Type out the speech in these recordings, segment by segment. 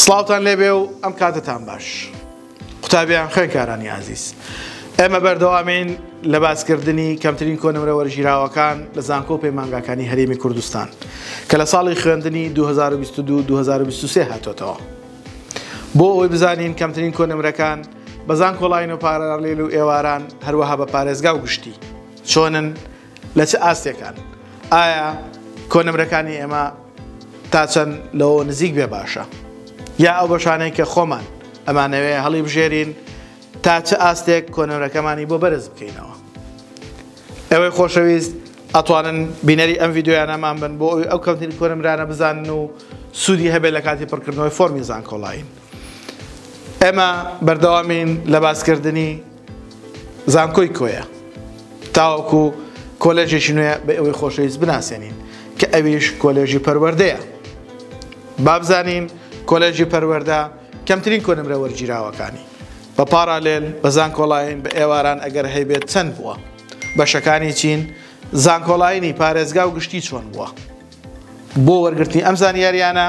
سڵاوتان لێبێ و ئەم کاتەتان باش قوتابیان خوێنکارانی ئازیز ئێمە بەردەوامین لە باسکردنی کەمترین کۆنمرە وەرژیراوەکان لە زانکۆ پەیمانگاکانی هەرێمی کوردستان کە لە ساڵی خوێندنی 2022 2023 هاتۆتەوە بۆ ئەوەی بزانین کەمترین کۆنمرەکان بەزان کۆڵین و پارەڕلێل و ئێواران هەروەها بە پارێزگا و گشتی چۆنن لە چ ئاستێکان؟ ئایا کۆنمرەکانی ئێمە تا چەند لەوە نزیک بێ باشە؟ یا ئەو بەشانەی کە خۆمان ئەمانەوێ هەڵی بژێرین تا چ ئاستێک کۆنمرەکەمانی بۆ بەرز بکەینەوە؟ ئەوەی خۆشەویست ئەتوانن بینەری ئەم یددیویانەمان بن بۆ ئەوی ئەو کەمترین کۆنمرانە بزانن و سوودی هەبێت لە کاتی پڕکردنەوەی فۆرمی زانکۆڵاین. ئێمە بەردەوامین لە باسکردنی زانکۆی کۆیە تاوەکو کۆلێژێکی نوێ بە ئەوەی خۆشەویست بناسێنین کە ئەویش کۆلێژی پەروەردەیە بابزانین کۆلێژی پەروەەردە کەمترین کۆنمرە وەرگیراوەکانی بە پارالێل بە زانکۆڵین بە ئێواران ئەگەر هەیبێت چەند بووە بەشەکانی چین زانکۆڵینی پارێزگا و گشتی چۆن بووە بۆ وەرگرتنی ئەم زانیاریانە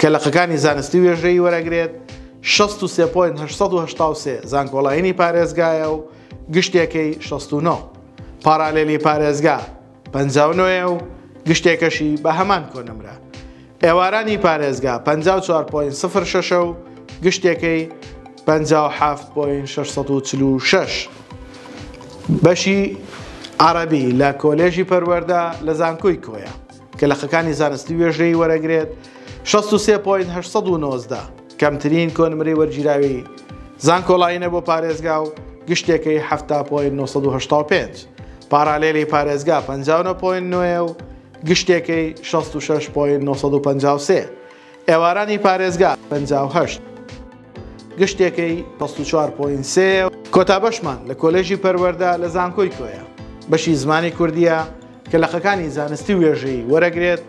کە لقەکانی زانستی وێژەیی وەرەگرێت، شەست و سێ پۆینت هەشت سەد و هەشتا و سێ زانکۆڵاینی پارێزگایە و گشتێکەی شەست و نۆ. پاڕالێلی پارێزگا پەنجا و نۆ یە و گشتێکەشی بە هەمان کۆنمرە. ئێوارانی پارێزگا پەنجا و چوار پۆینت سفر شەش ە و گشتێکەی پەنجا و حەفت پۆینت شەش سەد و چل و شەش. بەشی عەڕەبی لە کۆلێژی پەروەردە لە زانکۆی کۆیە. کە لقەکانی زانستی وێژەیی وەرەگرێت، شەست و سێ پۆینت هەشت سەد و نۆزدە، کەمترین کۆنمرەی وەرگیراوی زانکۆلاینە بۆ پارێزگا و گشتێکەی حەفتا پۆینت نۆ سەد و هەشتا و پێنج، پاراڵێلی پارێزگا پەنجا و نۆ پۆینت نۆ یە و گشتێکەی شەست و شەش پۆینت نۆ سەد و پەنجا و سێ. ئێوارانی پارێزگا پەنجا و هەشت گشتێکەی پەست و چوار پۆین سێ. کۆتا بەشمان لە کۆلێژی پەروەردە لە زانکۆی کۆیە بەشی زمانی کوردییە کە لەقەکانی زانستی وێژەیی وەرەگرێت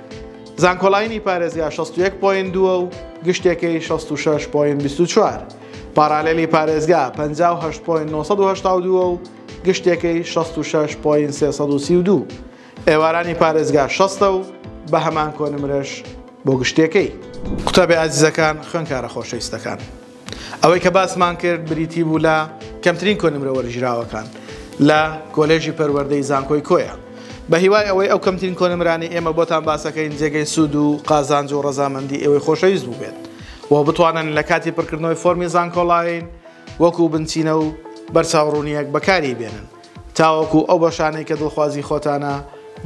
زانکۆلاینی پارێزگا شەست و یەک پۆین دووە و گشتێکەی شەست و شەش پۆین بیست و چوار پاراالێلی پارێزگا پەنجا و هەشت پۆین نۆ سەد و هەشتا و دووە و گشتێکەی شەست و شەش پۆین سێ سەد و سی و دوو ئێوارانی پارێزگا شەستە و بە هەمان کۆنمرەش بۆ گشتیەکەی. قوتابی ئازیزەکان، خوێنکارە خۆشەویستەکان. ئەوەی کە باسمان کرد بریتی بوو لە کەمترین کۆنمرە وەرگیراوەکان لە کۆلێژی پەروەردەی زانکۆی کۆیە. بە هیوای ئەوەی ئەو کەمترین کۆنمرانەی ئێمە بۆتان باسەکەین جێگەی سوود و قازانج و ڕەزامەندی ئێوەی خۆشەویست بووبێت و بتوانن لە کاتی پڕکردنەوەی فۆرمی زانکۆلاین وەکوو بنچینە و بەرچاوڕوونییەک بەکاری بێنن. تاوەکو ئەو بەشانەی کە دڵخوازی خۆتانە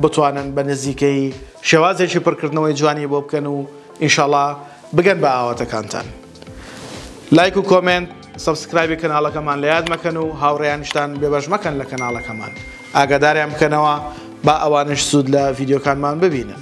بتوانن بە نزیکەیی شێوازێکی پڕکردنەوەی جوانی بۆ بکەن و ئینشەڵا بگەن بە ئاواتەکانتان لایک و کۆمێنت سبسکرایبی کەناڵەکەمان لە یاد مەکەن و هاوڕێیانشتان بێبەش مەکەن لە کەناڵەکەمان ئاگاداریان بکەنەوە با ئەوانش سوود لە ڤیددیوکانمان ببینن